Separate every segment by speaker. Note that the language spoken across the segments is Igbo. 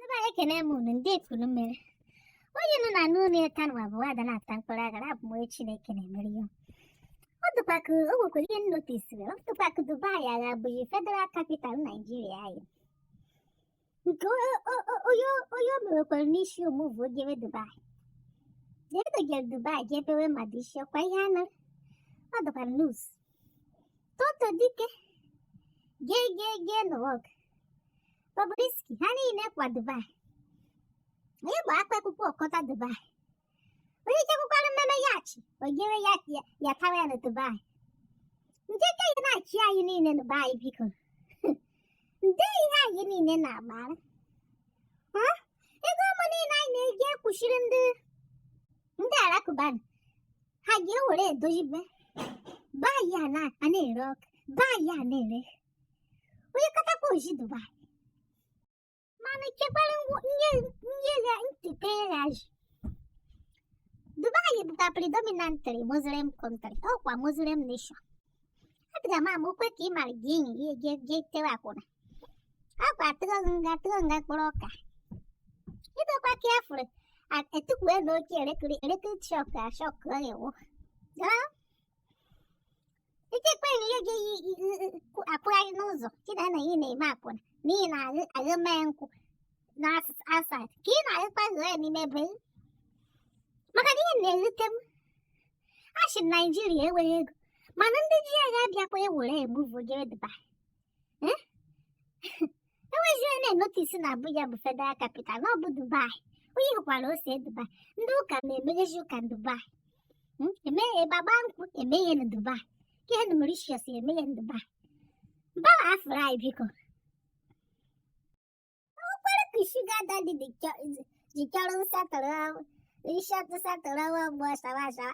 Speaker 1: ebe anyị ekene m unu ndị ekulu mmiri onye nọ na n'ụlọ ịta nwa bụ ada na-ata mkpụrụ agara abụ m onye chineke na-emere ya ọ dịkwa ka o nwekwara ihe m notisiri ọ dịkwa ka dubai ahụ bụzi federal capital naijiria anyị nke o- o- o- onye onye o mewekwara n'isi o muvu o gebe dubai jedogere dubai ga ebewe mmadụ isi ọkwa ihe anọ ọ dịkwa nus toto dike gee gee gee n'ụwa ọgụ Bobrisky ha niile kwa Dubai onye bụ akpa akwụkwọ ọkọta Dubai onye chekwukwara mmemme ya achị ogere ya ya tawa ya na Dubai nke ka ya na-achị anyị niile na be anyị biko nde ihe anyị niile na-agbara ego ụmụ niile anyị na-eji ekwuchiri ndị ndị alakụba ha ga-ewere edozibe be anyị na-ere ọkụ be anyị na-ere onye katakwa o jee dubai mana chekwara nye ya ntete ya ji dubai bụkwa predominantly muslim country ọkwa muslim nation adịghị m ama okwe ka ị mara gị enyi gị eje je tewe akwụna akwa atụ gị nga atụ gị nga mkpụrụ ọka idekwa ka ya fụrụ etukwue na oke elekere elekere shọk ashọk ewu Echekwa na ihe ga-eyi akwụgharị n'ụzọ gị na na ị na-eme akwụna n'ihi na agha mee nkwụ na asat ka ị na-agakwa ghọọ ya n'ime be maka na ihe na-ewute m a sị na naijiria enweghị ego mana ndị ji ya ga-abịakwa ewere emuvu jee dubai enweghị onye na-enotisi na Abuja bụ federal capital na ọ bụ Dubai onye hụkwara ọ sị Dubai ndị ụka na-emeghezi ụka na Dubai Mm, eme ebe agba nkwụ eme ya na Dubai ka ihe na Mauritius eme ya na Dubai mbawa afụrụ anyị biko ọkwara ka shuga dadi dị chọ- ji chọrọ nsatọrọ nsatọrọ nwa mgbe ọsara asawa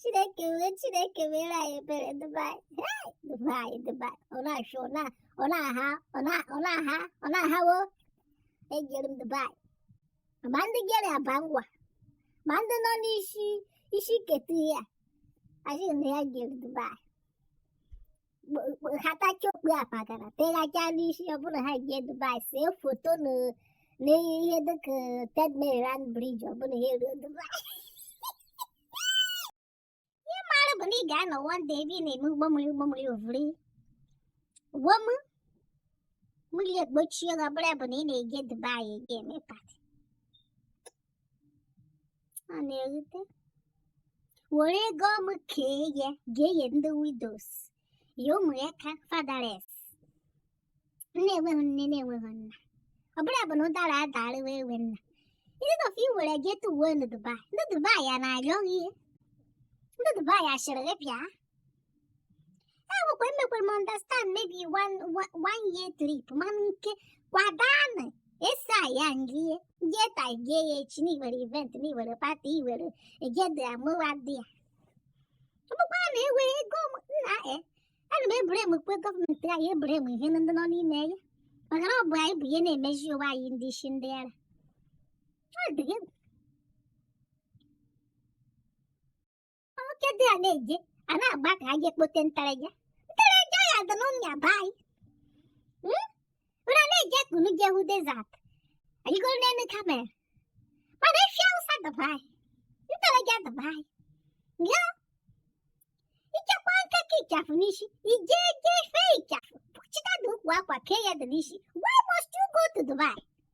Speaker 1: Chineke m Chineke meere anyị ebere Dubai Dubai Dubai ọ na-achụ ọ na ọ na-aha ọ na ọ na-aha ọ na-ahawo ejere m Dubai ma ndị jere aba ngwa ma ndị nọ n'isi isi ketu ya asị na ya jere Dubai hatacha okpu apagara teghacha n'isi ọ bụrụ na ha eje dubai see foto na n'ihe dịka third mainland bridge ọ bụrụ na ha eruo dubai ihe m mara bụ na ị ga-anọ one day ebe ị na-eme ụgbọ mmiri ụgbọ mmiri o vuru ụgbọ mmiri ekpuchie gị ọ bụrụ bụ na ị na-eje dubai eje eme pati a na-erute were ego m kee ya ga-enye ndị widows ya ụmụaka fatherless na-enweghị nne na-enweghị nna ọ bụrụ ya bụ na ụdara adarịwa ewe nna ndị nọfe i were je tuuwe na dubai ndị dubai ya na-ayọ gị ihe ndị dubai ya sịrị gị bịa awụkwa emekwere m understand maybe one, one, one year trip mana nke kwa daa na-esi aya na i je taa je ya echi na i nwere event na i nwere pati iwere egede amụwa dị ya ọ bụkwa na ewe ego m nna e ana m e-blame kwu gọọmenti anyị e-blame ihe ndị nọ n'ime ya maka na ọ bụ anyị bụ ihe na-emezi onwe anyị ndị isi ndị ara ọ dị gị nwoke dị a na-eje a na-agba ka e je kpote ntareja ntareja ya dị n'ụmịa be anyị Hmm? unu a na-eje ka unu jee hụ desert arịgoro n'elu camel mana efi Awụsa dị be anyị ntareja dị be anyị ya i jekwa nke kee ịchafụ n'isi ije jee fee ịchafụ chịta dị ukwu akwa kee ya dị n'isi why must you go to Dubai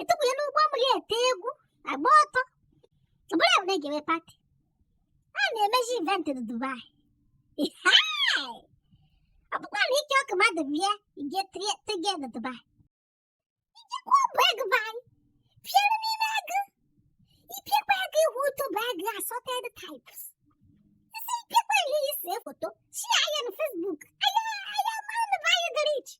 Speaker 1: etukwunye n'ụgbọ mmiri ete egwu agba ọtọ ọbụla bụ na ga-eme pati a na-emezi event na Dubai ọ bụkwa na ike ọkụ mmadụ bịa ige tege na Dubai i jekwa ọ bụ agụ be anyị pịara n'ime agụ i piekwa agụ i hụ ụtọ bụ agụ assorted types isi ipiekwa ihe ise foto si anya na Facebook anya anya mana be anyị gara iche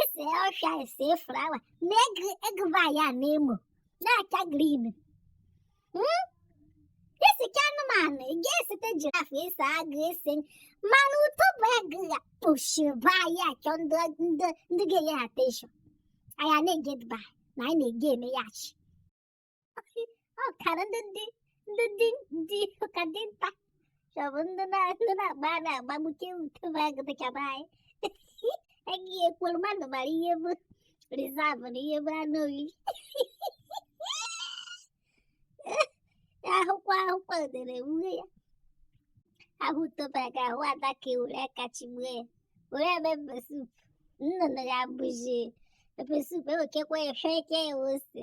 Speaker 1: ese ọhịa ese flawa na agụ be anyị na emo na-acha grin esekwa anụmanụ ị ga-esete jiraf ese agụ ese mana ụtọ bụ agụ ya kpụchiba ya achọ ndị ndị ndị ga-enye ha attention anyị ana-eje Dubai na anyị na-eje eme ya achị ọ kara ndị ndị ndị dị ndị ụka dị nta chọbụ ndị na ndị na-agba a na-agbagbuke utebe agụ dị ka be anyị agaghị ekwuru mmadụ mara ihe bụ reserve na ihe bụ anụ oriri ahụkwa ahụkwa udere nwunye ya ahụ utebe aga ahụ ada ka ewere aka chigbuo ya were eme pepper soup nnụnụ ya bụzi pepper soup ewekekwa ya fee ke ya ose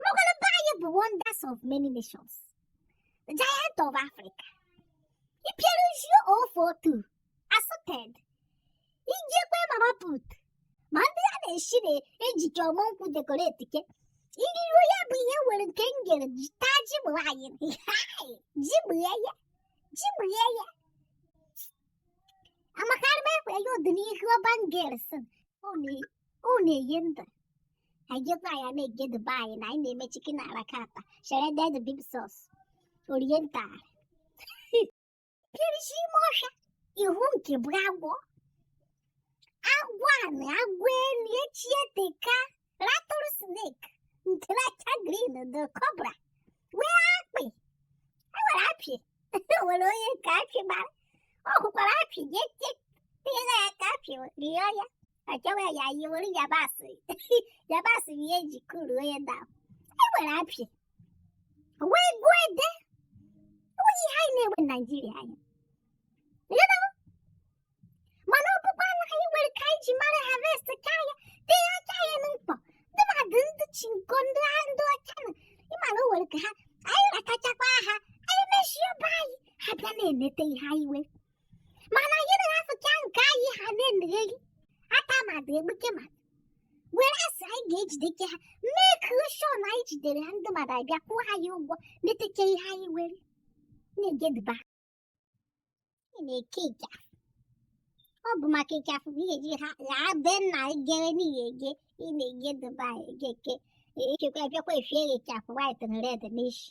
Speaker 1: N'obodo anyị bụ wonders of many nations. The giant of Africa. Ipieruzio ofotu assorted. I jekwa mama put. Ma ndị a na-esi na-ejike ọmụ nkwụ decorate ke. Iriru ya bụ ihe nwere nke m gere ji taa ji bụ anyị. Ji bụ ya ya. Ji bụ ya ya. Amakarị m ekwe ya ọdịnihu ọban gere sị. Ọ na- ọ na-enye ndụ. anyị jekwa ya na-eje dubai na anyị na-eme chicken a la carte shredded beef sauce oriental perish ime ọhịa ịhụ nke bụ agwọ agwọ anị agwọ elu echieteka rattle snake nke na-acha green the cobra wee akpị e nwere akpị e nwere onye nke akpị gbara ọ hụkwara akpị jee tela ya ka akpị rịọ ya achọwa ya anyị were yabasị yabasị bụ ihe e ji kụruo ya na e nwere apịa wee gụọ ede o nweghị ihe anyị na-enweghị na naijiria anyị mana ọkpụkpọ anụ anyị nwere ka anyị ji mara harvest ka anyị tee aka anyị na mkpọ ndị mmadụ ndị chinko ndị ha ndị ọcha na ịma na o nwere ka ha anyị rakachakwa ha anyị mechie ọba anyị ha bịa na-enete ihe anyị nwere mana anyị na-afụcha nke anyị ha na-emegheri ata madụ egbuke madụ were asị anyị ga-ejideke ha make sure na anyị jidere ha ndị mmadụ abịa kwụọ ha ya ụgwọ meteke ihe anyị were na-eje dubai ị na-eke ịchafụ ọ bụ maka ịchafụ bụ ihe ji ha ghaa be nna jere n'ihi eje ị na-eje dubai ejeke echekwa abịakwa efie ịchafụ white na red n'ishi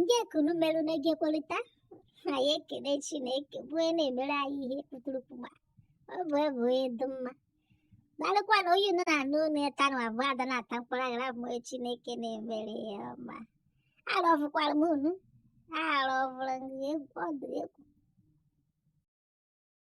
Speaker 1: ndee ka unu merụ na-eje ekwerịta anyị ekele chineke bụ onye na-emere anyị ihe kpụtụrụkpụgba ọ bụ ebe onye dị mma gbalịkwa na onye nọ na anụ ụlọ ya tanụ abụọ ada na-ata mkpụrụ aghara bụ onye chineke na-emere ya ọma arọfụkwara m unu arọfụrụ egwu ọ dị egwu